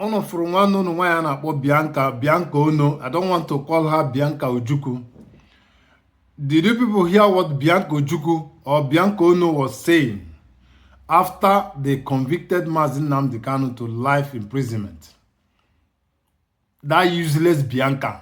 ụnụ fụrụ nwanne ụnụ nwaanyị a na-akpọ Bianca Bianca Onoh I don't want to call her Bianca Ojukwu did you people hear what Bianca Ojukwu or Bianca Onoh was saying after they convicted Mazi Nnamdi Kanu to life imprisonment that useless Bianca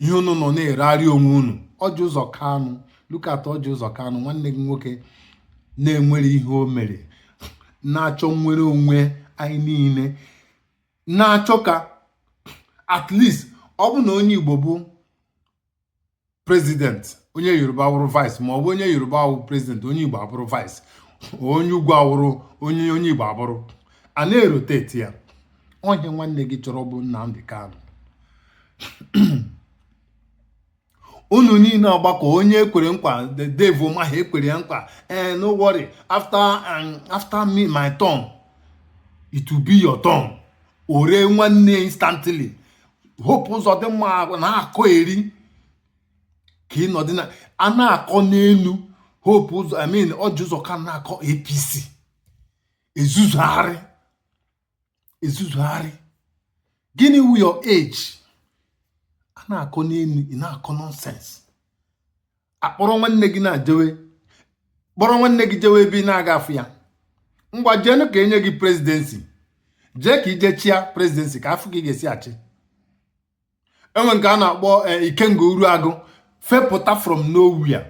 ihe unu nọ na-eregharị onwe unu Orji Uzor Kalu look at Orji Uzor Kalu nwanne gị nwoke na-enwerọ ihe o mere na-achọ nnwere onwe anyị niile na-achọ ka at least ọ bụrụ na onye Igbo bụ president onye Yoruba awụrụ vice ma ọ bụ onye Yoruba wụ president onye Igbo abụrụ vice onye ugwu awụrụ onye onye Igbo abụrụ a na-erotate ya ọ ihe nwanne gị chọrọ bụ Nnamdi Kanu unu niile agbakọ onye e kwere nkwa the devil maha ekwere ya nkwa eh no worry after um, after me my turn it will be your turn o ree nwanne instantly Hope Uzodimma na-akọyeri ka ị nọdị na a na-akọ n'elu Hope Uzo I mean Orji Uzor ka na-akọ APC ezuzugharị ezuzugharị gịnị wụ your age a na-akọ n'elu ị na-akọ nonsense a kpọrọ nwanne gị na-ajewe kpọrọ nwanne gị jewe ebe ị na-aga afụ ya ngwa jeenụ ka e nye gị presidency jee ka i je chịa presidency ka a fụ ka ị ga-esi achị e nwee nke a na-akpọ eh, Ikenga Uruagu fepụta from nowhere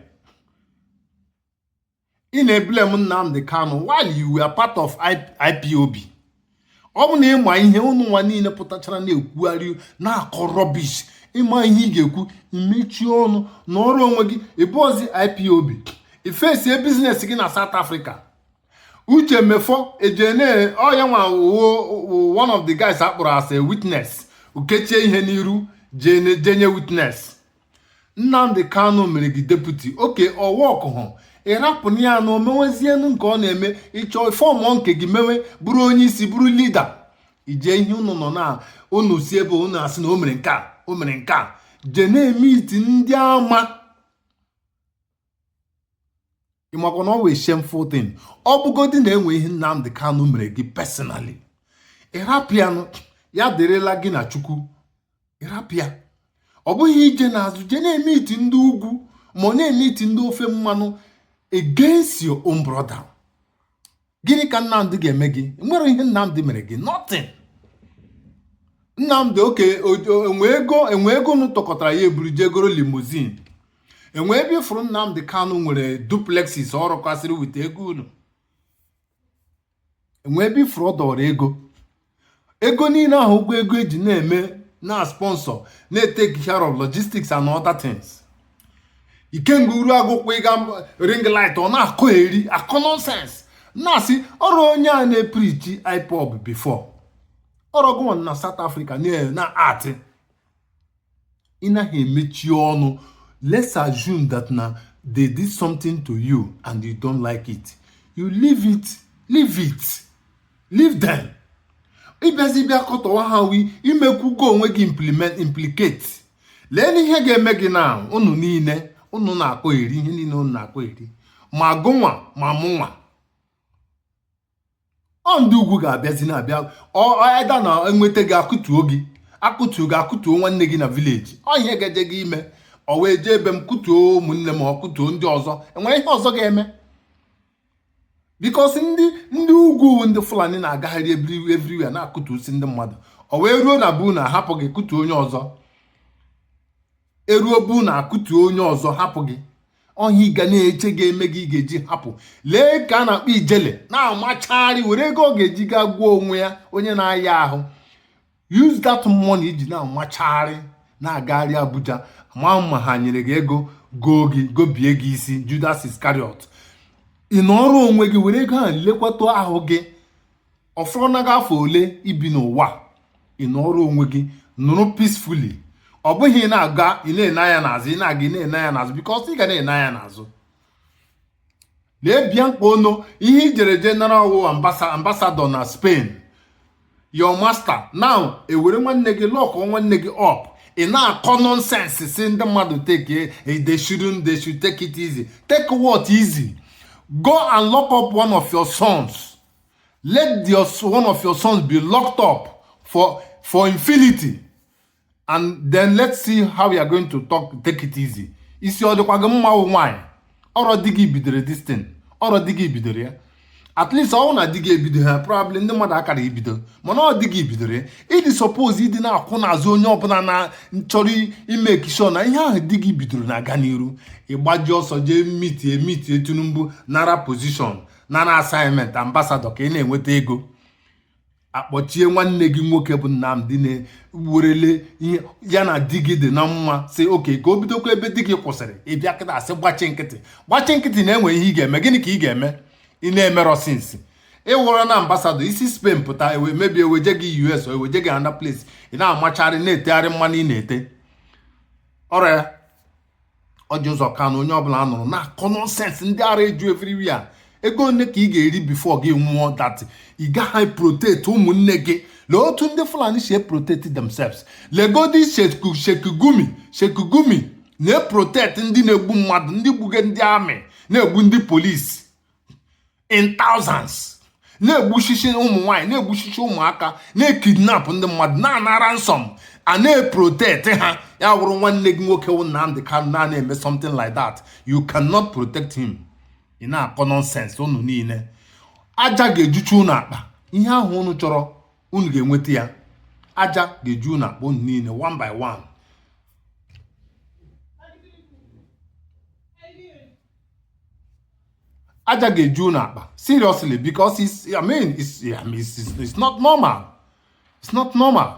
ị na-eblame Nnamdi Kanu while you were part of IPOB ọ bụ na ị ma ihe ụnụ nwa niile pụtachara na-ekwugharị na-akọ rubbish ị ma ihe ị ga-ekwu i mechie ọnụ nọrọ onwe gị ị bụrọzi IPOB i facie business gị na South Africa Uche Mefor ejene ọ ya nwa one of the guys a kpọrọ as a witness o kechie ihe n'iru je nye witness Nnamdi Kanu mere gị deputy okay ọ workụhụ ị rapụnụ ya na o mewezienu nke ọ na-eme ị chọọ formụ nke gị mewe bụrụ onye isi bụrụ leader ije ihe unu nọ na unu si ebe unu asị na o mere nke a o mere nke a je na-emeet ndị ama ị makwa na ọ wụ a shameful thing ọ bụgodi na e nwe ihe Nnamdi Kanu mere gị personally ị rapịanụ ya dịrịla gị na Chukwu ị rapịa ọ bụghị ije n'azụ jee na-emeet ndị ugwu ma ọ na-emeet ndị ofe mmanụ against your own brother gịnị ka nnamdi ga-eme gị nwere ihe nnamdi mere gị nothing nnamdi okay enwe ego enwe ego unu tụkọtara ya eburu jee goro limousine enwe ebe ị fụrụ nnamdi kanu nwere duplexes ọ rụkwasịrị with ego unu enwe ebe ị fụrụ ọ dọrọ ego ego niile ahụ ụgwọ ego eji na-eme na-esponsor na-etake care of logistics and other things ikenga uruagụ kwụ ịga ring light ọ na-akọ eri akọ nonsense na-asị ọrọ onye a na-epreach ipob before ọrọ gụnwa na South Africa na-atị ị naghị emechi ọnụ let's assume that na they did something to you and you don't like it you leave it leave it leave them ị bịazie bịa kọtọwa ha wi i mekwugo onwe gị implement implicate lee na ihe ga-eme gị na unu niile unu na-akọ eri ihe niile unu na-akọ eri ma gụnwa ma mụnwa ọ ndị ugwu ga-abịazi na-abịa either na enweta gị akụtuo gị akụtuo gị akụtuo nwanne gị na village ọ ihe gaje gị ime ọ wee jee ebe m kụtuo ụmụnne m ọ kụtuo ndị ọzọ enwere ihe ọzọ ga-eme because ndị ndị ugwu ndị fulani na-agagharị everywhere na-akụtusi ndị mmadụ ọ wee ruo na bụ na ahapụ gị kụtuo onye ọzọ eruo bụ na akụtuo onye ọzọ hapụ gị ọ ihe ị ga na-eche ga-eme gị ị ga-eji hapụ lee nke a na-akpọ ijele na-amachagharị were ego ọ ga-eji gaa gwọọ onwe ya onye na-aya ahụ use that money iji na-amachagharị na-agagharị Abuja ma ma ha nyere gị ego goo gị gobie gị isi Judas Iscariot ị nọọrọ onwe gị were ego ahụ lekwata ahụ gị ọ fọrọ na gị afọ ole ibi n'ụwa ị nọrọ onwe gị nọrọ peacefully ọ bụghị ị na-aga ị na-ene anya n'azụ ị na-aga ị na-ene anya n'azụ because ị ga na-ene anya n'azụ lee bianca onoh ihe i jere jee nara ọ wụ ambassador na Spain your master now ewere nwanne gị lock nwanne gị up ị na-akọ nonsense sị ndị mmadụ take eh, they shouldn't they should take it easy take what easy go and lock up one of your sons let your one of your sons be locked up for for infinity and then let's see how you are going to talk take it easy isi ọ dịkwa gị mma wụ nwaanyị ọrọ di gị bidoro this thing ọrọ di gị bidoro ya at least ọ wụ na di gị ebido ha probably ndị mmadụ akara ibido mana ọ di gị bidoro ya ịdị suppose ịdị na-akwụ n'azụ onye ọbụla na chọrọ ịmake sure na ihe ahụ di gị bidoro na-aga n'iru ị gbaji ọsọ jee meetie meetie tinubu nara position nara assignment ambassador ka ị na-enweta ego akpọchie nwanne gị nwoke bụ Nnamdi na-werele ihe ya na di gị dị na mma sị okay ka o bidokwa ebe di gị kwụsịrị ị bịa kịta asị gbachi nkịtị gbachi nkịtị na-enwe ihe ị ga-eme gịnị ka ị ga-eme ị na-emerọ since ị wụrụ na ambassador i si Spain pụta ewe maybe eweje gị US eweje gị another place ị na-amachari na-etegharị mmanụ ị na-ete ọrịa Orji Uzor Kalu onye ọbụla a nụrụ na-akọ nonsense ndị ara eju everywhere ego ole ka ị ga-eri before gị nwụọ that ị gaghị protect ụmụnne gị lee otu ndị Fulani si protect themselves legodi Sheikh Gumi Sheikh Gumi na-eprotect ndị na-egbu mmadụ ndị gbuge ndị army na-egbu ndị police in thousands na-egbusisi ụmụ nwaanyị na-egbusisi ụmụaka na-ekidnap ndị mmadụ na-anara ransom a na-eprotect ha ya wụrụ nwanne gị nwoke wụ Nnamdi Kanu na na-eme something like that you cannot protect him ị na-akọ nonsense unu niile aja ga-ejucha unu akpa ihe ahụ unu chọrọ unu ga-enweta ya aja ga-eju unu akpa unu niile one by one aja ga-eju unu akpa seriously because it's I mean it's, I mean, it's, it's not normal it's not normal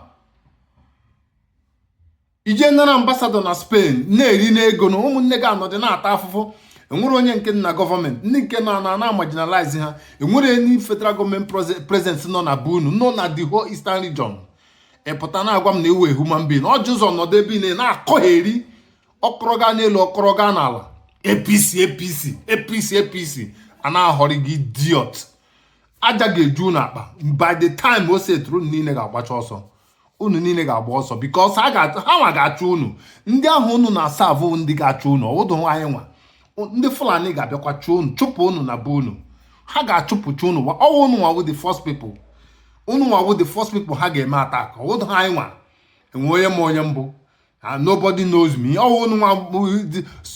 i je nara ambassador na Spain na-eri n'ego na ụmụnne gị anọdụ na-ata afụfụ enwere onye nke na government ndị nke nọ na na-amarginalize ha enwere any federal government presence nọ na be unu nọ na the whole eastern region ị pụta na-agwa m na ị wụ human being Orji Uzor nọdụ ebe ị na-akọgheri ọ kọrọ gaa n'elu ọ kọrọ gaa n'ala APC APC APC APC a na-aghọri gị idiot aja ga-eju unu akpa by the time o setụrụ unu niile ga-agbacha ọsọ unu niile ga-agba ọsọ because ha nwa ga-achụ unu ndị ahụ unu na-aserve ndị ga-achụ unu ọ wụdụ anyị nwa ndị Fulani ga-abịakwa chụọ unu chụpụ unu na be unu ha ga-achụpụcha unu ọ wụ unu nwa wụ the first people unu nwa wụ the first people ha ga-eme atak ọwụdụ anyị nwa enwe onye ma onye m bụ Ah, nobody knows me ọ wụ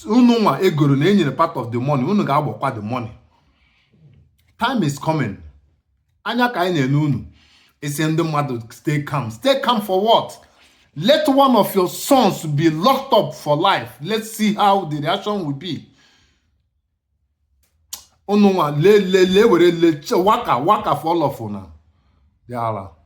unu nwa egoro na enyere part of the money unu ga-agbọkwa the money time is coming anya ka anyị na-ele unu ị sị ndị mmadụ stay calm stay calm for what let one of your sons be locked up for life let's see how the reaction will be unu nwa le le le were le waka waka for all of una ndị ala